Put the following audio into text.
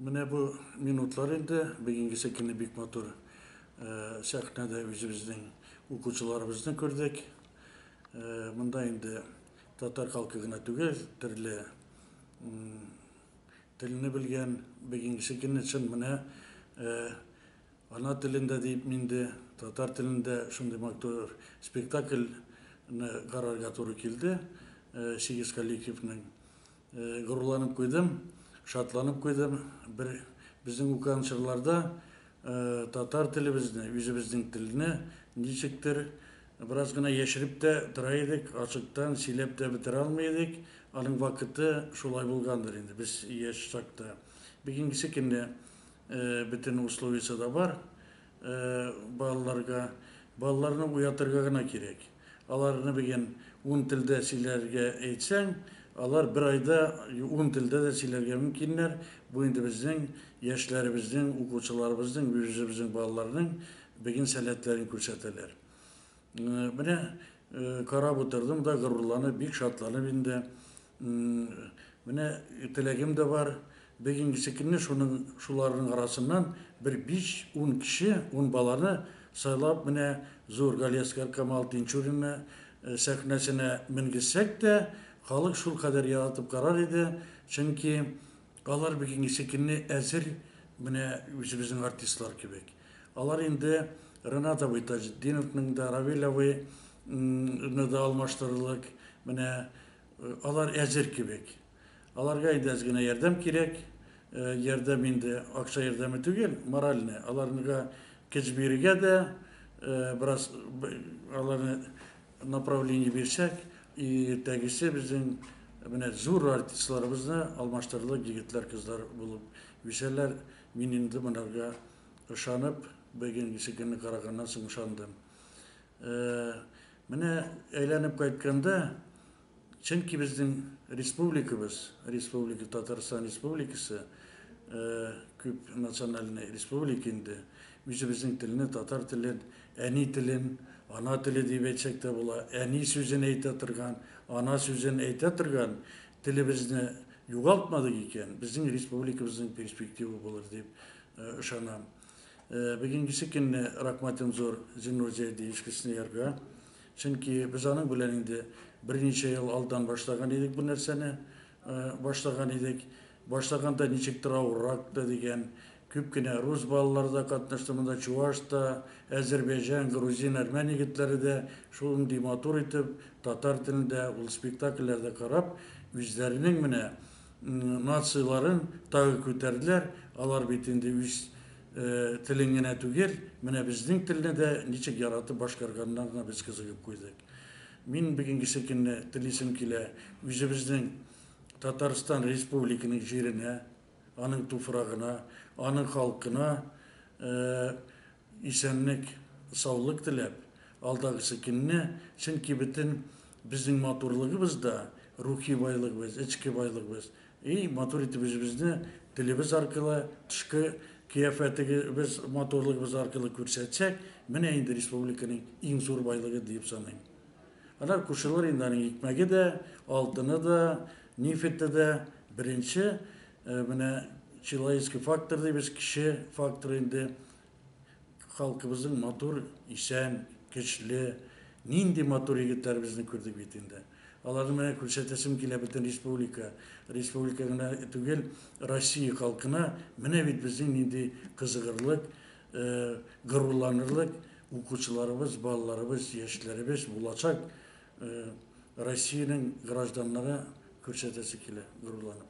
Менә бу минутлар инде, бигиңгесе көнне бик матур сәхнәдә үзебезнең укучыларыбызны күрдек. Монда инде татар халкы гына түгел, төрле телне белгән, бигиңгесе көнне чын менә ана телендә диеп минде, татар телендә шундый матур спектакльне карарга туры килде, сигез коллективның. Горурланып куйдым, шатланып куйдым. Бер безнең укыган чорларда татар телебезне, үзебезнең телне ничектер бераз гына яшереп тә тора идек, ачыктан сөйләп тә бетерә алмый идек. Аның вакыты шулай булгандыр инде без яшь чакта. Бүгенгесе көндә бөтен условиясе дә бар. Балаларга балаларны уятырга гына кирәк. Аларны бүген ун телдә сөйләргә әйтсәң, алар бер айда ун телдә дә сөйләргә мөмкиннәр. Бу инде безнең яшьләребезнең, укучыларыбызның, үзебезнең балаларның бүген сәләтләрен күрсәтәләр. Менә карап утырдым да горурланып, бик шатланып инде Менә теләгем дә бар, бик иңгисе килми, шуның, шуларның арасыннан бер биш-ун кеше, ун баланы сайлап, менә зур Галиәсгар Камал Тинчуринны сәхнәсенә менгезсәк тә, халык шул кадәр яратып карар иде, чөнки алар бик иңгисе килми, әзер менә үзебезнең артистлар кебек. Алар инде Ренат абый Таҗетдиновның да, Равил абый ны да алмаштырырлык, менә Алар әзер кебек. Аларга инде әз генә ярдәм кирәк. Э, ярдәм инде акча ярдәме түгел, моральный. Аларга көч бирергә дә, э, бераз аларны направление бирсәк, иртәгесе безнең менә зур артистларыбызны алмаштырырлык егетләр, кызлар булып үсәләр. Мин инде монарга ышанып, бүгенгесе көнне караганнан соң ышандым. Э, Менә әйләнеп кайтканда, чөнки безнең республикабыз, республика, Татарстан Республикасы, күп национальный республика инде, үзебезнең телне, татар телен, әни телен, ана теле дип әйтсәк тә була, әни сүзен әйтә торган, ана сүзен әйтә торган телебезне югалтмадык икән, безнең республикабызның перспективы булыр дип ышанам. Бүгенгесе көнне рәхмәтем зур Зиннур Зәйди Искесныярга. Чөнки без аның белән инде берничә ел алдан башлаган идек бу нәрсәне. Башлаган идек. Башлаганда ничектер авыррак та дигән, күп кенә рус балалары да катнашты монда, чуваш та, әзербәйҗан, грузин, әрмән егетләре дә шундый матур итеп татар телендә ул спектакльләрдә карап, үзләренең менә Нацияләрен тагы күтәрделәр, алар бит инде үз телен генә түгел, менә безнең телне дә ничек яратып башкарганнарына без кызыгып куйдык. Мин бүгенгесе көнне телисем килә үзебезнең Татарстан Республиканың җиренә, аның туфрагына, аның халкына Исәнлек, саулык теләп, алдагысы көнне, чөнки бөтен безнең матурлыгыбыз да, рухи байлыгыбыз, эчке байлыгыбыз. И, матур итеп үзебезне телебез аркылы, тышкы кыяфәтегебез, матурлыгыбыз аркылы күрсәтсәк, менә инде республиканың иң зур байлыгы диеп саныйм. Аннары кушылыр инде аның икмәге дә, алтыны да, нефите дә. Беренче Менә человеческий фактор дибез, кеше факторы инде. Халкыбызның матур, исән, көчле, нинди матур егетләребезне күрдек бит инде. Аларны менә күрсәтәсем килә бөтен республика, республика гына түгел, Россия халкына менә бит безнең нинди кызыгырлык, горурланырлык укучыларыбыз, балаларыбыз, яшьләребез булачак. Россиянең гражданнары күрсәтәсе килә горурланып.